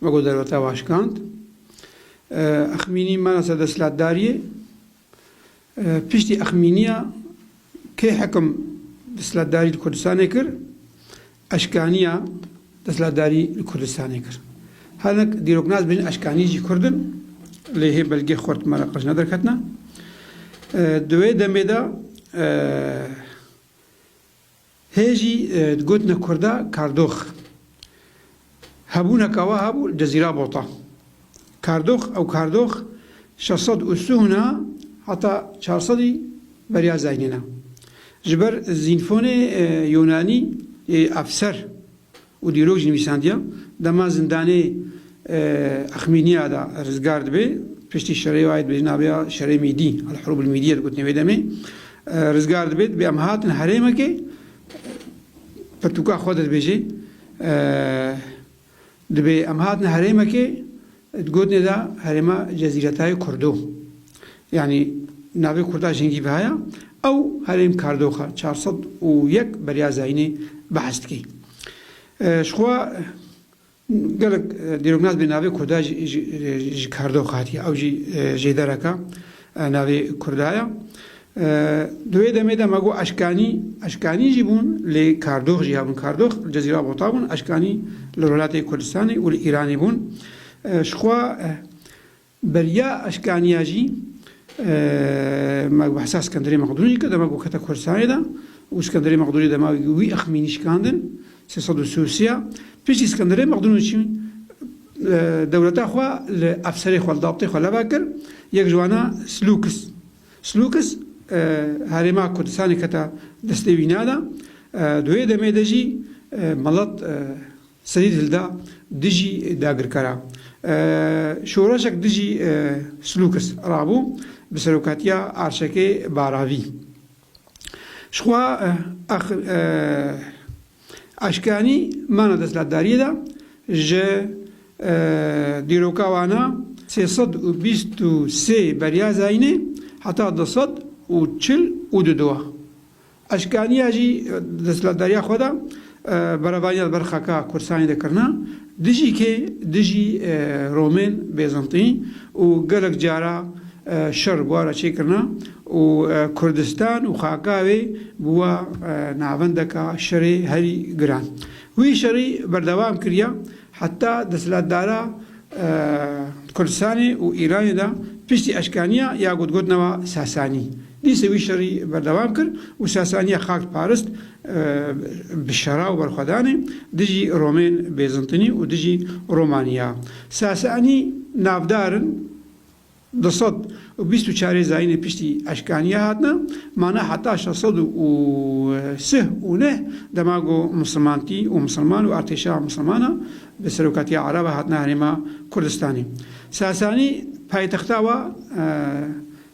Me ku derweta vaşkand. Exmînî mera ser desthilatdariyê. Piştî exmîniya kê hekim desthilatdarî li Kurdistanê kir, eşkaniya desthilatdarî li Kurdistanê kir. Her ne dîroknas bêjin eşkanî jî Kurd in, lê hê belgê xurt me re qij ne derketina. Di wê demê de. Hê jî di gotina kurda kardox. Hebûneka we hebû di zîrabota. Kardox ew kardox şeş sed û sûhna heta çar sedî beriya zeynîna. Ji ber zînfonê yûnanî yê efser. û dîrok jî nivîsandiya dema zindanê Axmîniya de rizgar dibe piştî şerê wayê dibêjin navê şerê mîdî Elhurûb Elmîdîye digotinê wê demê rizgar dibe dibê em hatin herêmekê pirtûka xwe de dibêje dibê em hatin herêmekê Di gotinê de herêma Cezîretayê kurdo. Yanî navê kurda jingî bi haya, ew herêm kardoxa çar sed û yek beriya zayînê behs dike. Ji xwe gelek dîroknas bê navê kurda ji kardoxa hatiye, ew jî jêdereka Navê Kurda ye. Di wê demê de me got eşkanî, eşkanî jî bûn lê kardox jî hebûn. Kardox li Cezîra Bota bûn, eşkanî li Rûlatê Kurdistanê û li Îranê bûn. Ji xwe beriya eşkaniya jî me bi hisa Skenderê Mexdûnî kir, demek ku kete Kurdistanê de û Skenderê Mexdûnî dema wî ixmînî şikandin. Sê sed û si û sê piştî Skenderê Mexdûnûçî dewleta xwe li efserê xwe, li dabtê xwe leva kir, yek ji wan e Slûkis. Slûkis herêma Kurdistanê kete destê wî ne de. Di wê demê de jî melet serî hilda dijî dagirkara. Şoreşek dijî Slûkis rabû bi serokatiya Arşekê Baravî. Jixwe Eşkanî mana desthilatdariyê de ji dîroka wana sê sed û bîst û sê beriya zayînê heta du sed û çil û du diwa. Eşkaniya jî desthilatdariya xwe de Berevanîya li ber xaka Kursanî de kirina dijî kê, dijî Romên, Bêzintî û gelek cara şer bûara çêkirina û Kurdistan û xaka wê bûwa navendeka şerê herî giran. Wî şerî berdewam kiriya heta desthilatdara Kurdistanê û Îranê de piştî eşkeniya ya gotgotnewa Sasanî, Dîsê wî şerî berdewam kir û Sasaniya xak parist bi şera û berxwedanê dijî Romên Bêzintinî û dijî Romaniya. Sasanî navdar in du sed û bîst û çarê zayînê piştî eşkaniya hatine mane heta şeş sed û sih û neh dema ku misilmantî û misilman û artêşa misilmana bi serokatiya Ereba hatine herêma Kurdistanê. Sasanî paytexta wa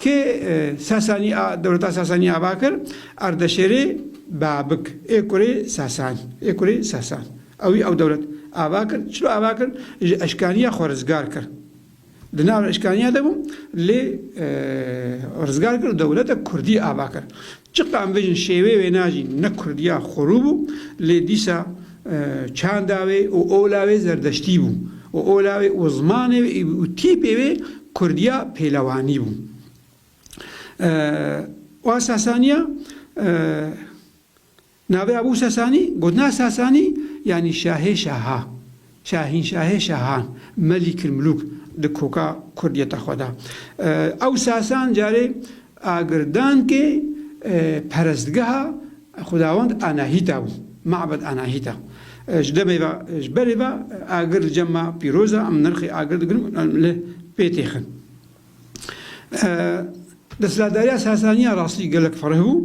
Kê Sasanî a dewleta Sasanî ava kir? Ardeşêrê Babik ê kurê Sasan ê kurê Sasan ew î ew dewlet ava kir. Çilo ava kir? Ji eşkaniya xwe rizgar kir. Di nav eşkaniya de bû lê rizgar kir û dewleta kurdî ava kir. Çiqe em vejin şêwê wêna jî ne kurdiya xwerû bû lê dîsa çanda wê û ola wê zerdeştî bû û ola wê û zimanê wê û tîpê wê kurdiya pêlewanî bû. Wa Sasaniya Navê Ebû Sesanî, gotina Sesanî yanî şahê şahan, şahînşahê şahan, Melîkilmulûk di koka kurdiyeta xwe de. Ew Sesan carê agirdankê perestgeha xwedawend Anahîta bû, Mabed Anahîta. Ji demê ve, ji berê ve agir li cem me pîroz e, em nirxê agir digirin û em li pê têxin. Desthilatdariya Sesaniya rastî gelek fereh bû,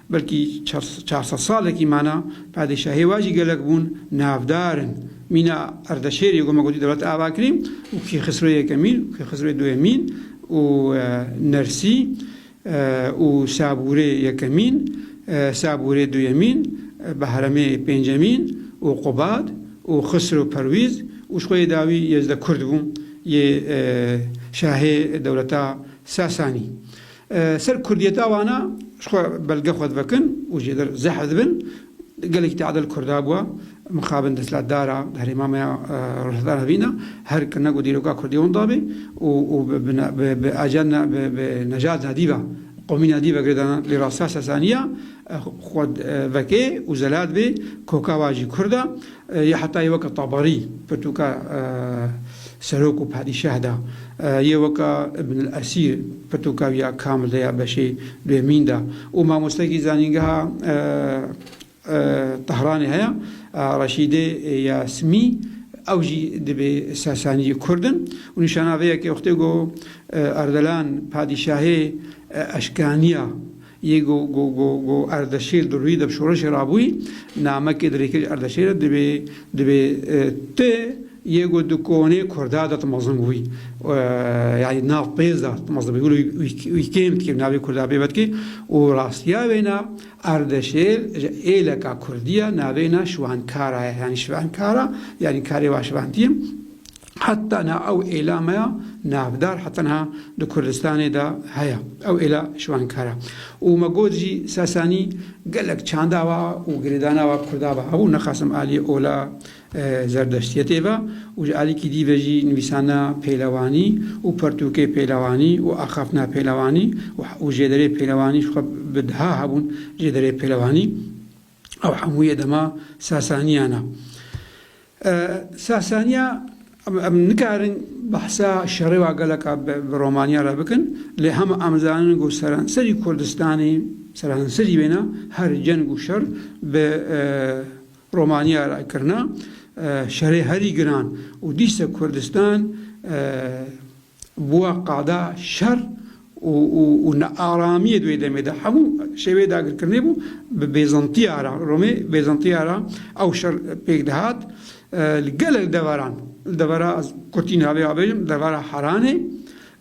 Belkî çar sed salekî mane, padîşahê we jî gelek bûn navdar in. Mîna Ardeşêrê ku me gotî dewlet ava kirî û Kêxisro Yekemîn û Kêxisro Duyemîn û Nersî û Sabûrê Yekemîn, Sabûrê Duyemîn, Behremê Pêncemîn û Qubad û Xisro Perwîz û ji xwe yê dawî Yezde Kurd bû yê şahê dewleta Sasanî. Ser kurdiyeta wan a ji xwe belge xwe divekin û jê der zehf dibin. Gelekî teadil kurda bûa. Mixabin destlatdar a herêma me ya Rojhilata Navîn a her kirina ku dîroka kurdî wan dabê û û bi bi ajenda bi bi nejadna dî ve, qomîna dî ve girêdana lê rastîya Sasaniya Xwe vekê û zelat bê koka wa jî kurd a, yê heta yê weke Tabarî, pirtûka serok û padîşah da, yê weke Ibn El Esîr, pirtûka wî ya kamil de ya beşê duêmîn da û mamostekî zanîngeha Tehranê heye Reşîdê ya Simî, ew jî dibê Sasaniyê kurd in û nîşana vê yekê wextê ku Erdelan padîşahê Eşkaniya Yê ku ku Erdeşîr di rûyî de bi şoreşê re bûyî, namekê di rêkirî Erdeşîr de dibê dibê ti yê ku di konê Kurda de ti mezin bûbî. Yanî nav pêz de ti mezin bûbî. Wilo wî kêm dikê navê Kurda pê vedikê û rastiya wêna Erdeşêr ji êleka Kurdî ya navê na Şiwankara ye. Yanî Şivankara yanî karê va şivantî ye. Heta niha ew êla me ya navdar heta niha di Kurdistanê de heye. Ew êla şiwankar e. Û me got jî Sasanî gelek çanda wa û girêdana wa Kurda ve hebû, nexasim aliyê ola Zerdeştiyetê ve û ji alîkî dî ve jî nivîsana pêlewanî û pertûkê pêlewanî û axaftina pêlewanî û jêderê pêlewanî ji xwe bi diha hebûn jêderê pêlewanî. Ew hemû yê dema Sasaniyan e. Sasaniya em nikarin behsa şerêwa geleka bi Romaniya re bikin lê hema em zanin ku seranserî Kurdistanê seranserî wêne her ceng û şer bi Romaniya re kirine şerê herî giran û dîsa Kurdistan Bûya qada şer û nearamiyê di wê demê de hemû şêweyê dagirkirinê bû. Bi Bêzantiya re, Romê Bêzantiya re ew şer pêk dihat li gelek deveran. Li devera kurtî niha vê bêjim li devera Heranê,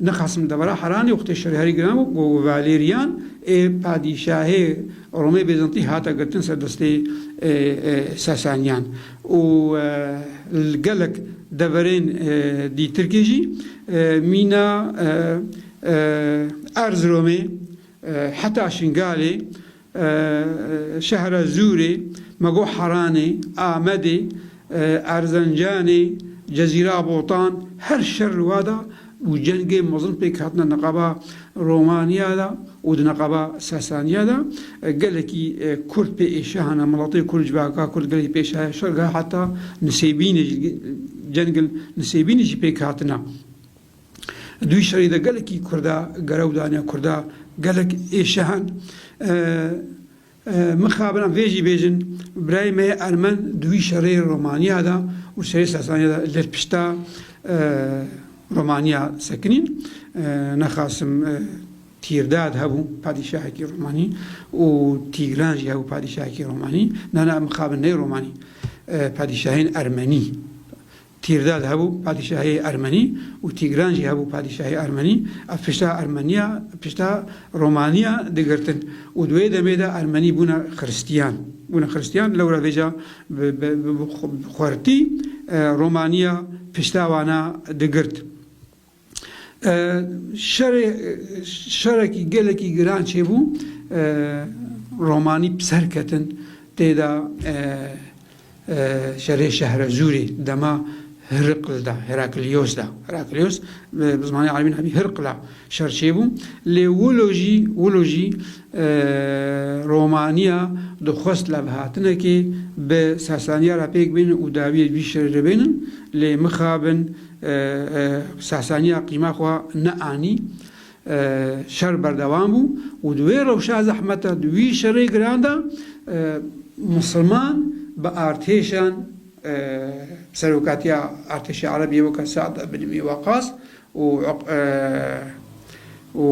nixwasim li devera Heranê wextê şerê herî giran bû ku Valerian ê padîşahê Romê Bêzantî hate girtin ser destê Sasaniyan. û li gelek deverên dîtirkê jî mîna Erziromê heta Şingalê, şehra Zûrê, Megoharanê, Amedê, Erzencanê, Cezîra Botan her şer li wa da û cengên mezin pêk hatine neqaba Romaniya de û di neqaba Sasaniya de gelekî Kurd pê êşe hene, miletê Kurd, civaka Kurd gelekî pê êşe şer gel heta Nisêbînê jî cengên Nisêbînê jî pêk hatine. Dûyî şerî de gelekî Kurda gerew dane, Kurda gelek êşe hen. Mixabin vê jî bêjin, birayê me yê ermen di wî şerê Romanya da û şerê Sasaniya da li pişta Romanya sekinîn. Nexasim Tîrdad hebû padîşahekî Romanî û Tîgran jî hebû padîşahekî Romanî. Nana Mixabin ney Romanî, padîşahên ermenî Tîrdad hebû padîşahiyê ermenî û Tîgran jî hebû padîşahê ermenî. Ev pişta ermeniya pişta romaniya digirtin û di wê demê de ermenî bûne xiristiyan. Bûne xiristiyan lewra vêca bi xwertî romaniya pişta wan a digirt. Şerê şerekî gelekî giran çêbû. Romanî bi ser ketin tê de şerê Şehrezûrê dema Hirql de, Heraklios de, Heraklios bi zimanê erebî nebî Hirql e, şer çêbû. Lê wilo jî wilo jî romanîya dixwest levhatinekê bi Sasanîya re pêk bêne û dawîyê vî şerê re bêne. Lê mixabin. Sasaniya qîma xwe neanî. Şer berdewam bû û di wê rewşa zehmet de, di wî şerê giran de misilman bi artêşan serokatiya artêşa ereb yê weke Sead bin Îmî Waqas û û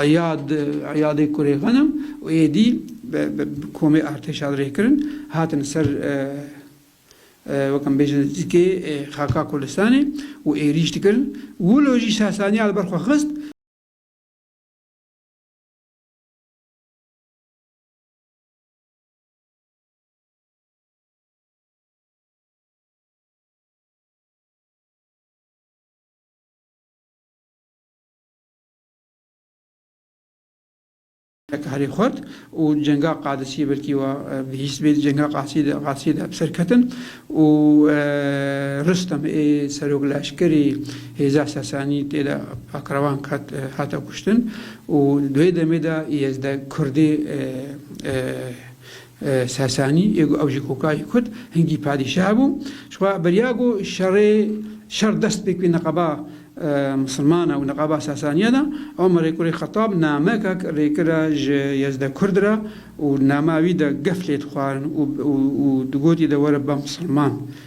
Îyad Îyadê kurê Xenim û êdî bi komê artêşa rêkirin hatin ser Wek em bêjin zikê xaka Kurdistanê û êrîş dikirin. Wilo jî Sasaniya li ber xwe xist. Heta herî xurt û cenga Qadisî belkî wa bihîst bê. Di cenga Qadisî de bi ser ketin û Rustem ê serok leşkerî hêza Sesanî tê de Pakrevan ket hate kuştin û di wê demê de Yezde Kurdê Sasanî yê ku ew jî kokayî kut, hingî padîşah bû. Ji xwe beriya ku şerê şer dest pê kewî niqaba misilmana û niqaba Sasaniya de. Omer ê kurê Xetab namekek rêkira ji Yezde Kurd re û di nama wî de gef lê dixwarin û û digot î de were be misilman.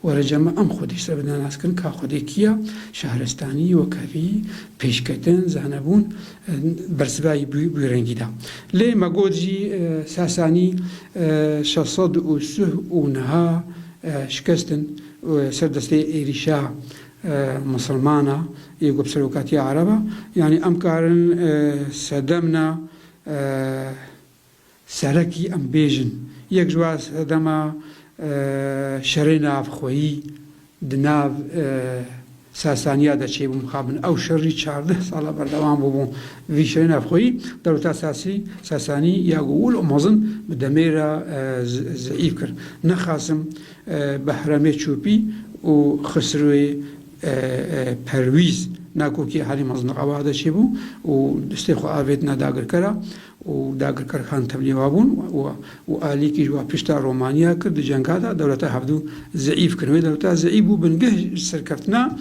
Were cama em xwedî ji ser bi nas kirin ka xwedê kî ya, şahrestanî, wekevî, pêşketin, zanebûn, bersivayî bûye rengî da. Lê me got jî Sasanî şeş sed û suh û niha şikestin ser destê êrîşa misilmana yê ku bi serokatiya ereba, yanî em karin sedemna. Serekî em bêjin yek ji wan sedema şerê navxweyî di nav Sasaniya de çêbû. Mixabin ew şer jî çardeh sala berdewam bûbû. Vî şerê navxweyî dewleta Sasî, Sasanî, ya ku wil û mezin bi demê re zeîf kir. Ne Qasim, Behremê Çûpî û Xisrûê Perwîz, ne Kokî herî mezin di qebaxe de çêbû û destê xwe avêtine dagirkera. û dagirker Xan Tevlî wa bûn û Alî kî ji wa pişta Romanya kir di cenga de dewleta Hevdû zeîf kirin. Wê dewleta zeîf bû bingeh ji serkeftina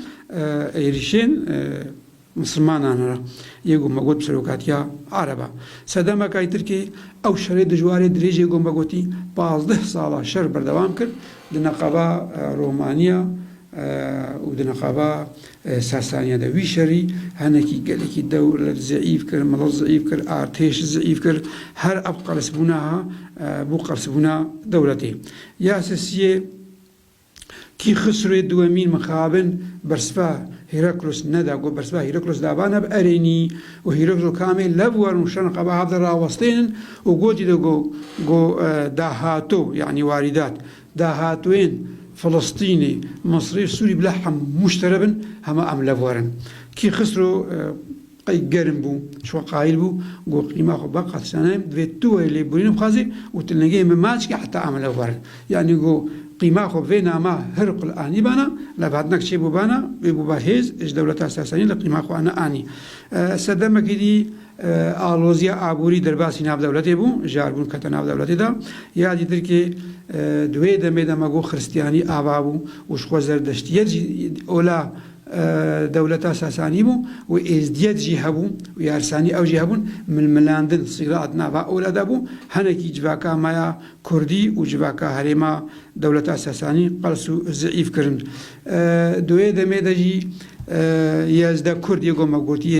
êrîşên misilmanan re yê ku me got bi serokatiya Ereb e. Sedemeke Tirkiyeyê ew şerê dijwarê dirêjê ku me gotî pazdeh sala şer berdewam kir di neqeba Romanya û di neqeba Sasaniya de wî şerî henekî gelekî dewlet zeîf kir, milet zeîf kir, artêş zeîf kir. Her ev qelsbûna ha bû qelsbûna dewletê. Ya sisiyê kî Xisrûyê Duwemîn mixabin bersiva Hîraklos neda ku bersiva Hîraklos de va neb erênî û Hîraklos ku amê lev werin û şern xwe bi hev de rawestênin û gotî de ku ku dahato yanî warîdat Dahatûyên Filistînî, Misrî, Sûrî bila hemû ji te re bin, hema em li vir in. Kî Xisro qey germ bû, ji xwe qayîl bû, got, Qîma xwe ba qat şane, divê tu werî lêborîn bixwazî û tu lingeyê min maç kî heta em li vir in. Yanî got, Qîma xwe vê nama Hirql anîbana, lê bi hinek çêbûbana wê bûba hêz, ji dewleta Sasanî li qîma xwe ne anî. Sedemekî dî. Aloziya aborî derbasî navdewletê bû, ji arbûn kete navdewletê de. Ya dî Tirkiyê di wê demê de me got xiristiyanî ava bû û jixwe zerdeştiyet jî ola dewleta Sasanî bû û êzdiyet jî hebû û yarsanî ew jî hebûn. Milmilandin, sîrat, nava ola de bû. Hinekî civaka me ya kurdî û civaka herêma dewleta Sasanî qels û zîîf kirin. Di wê demê de jî yezde kurd yê got me gotiyê.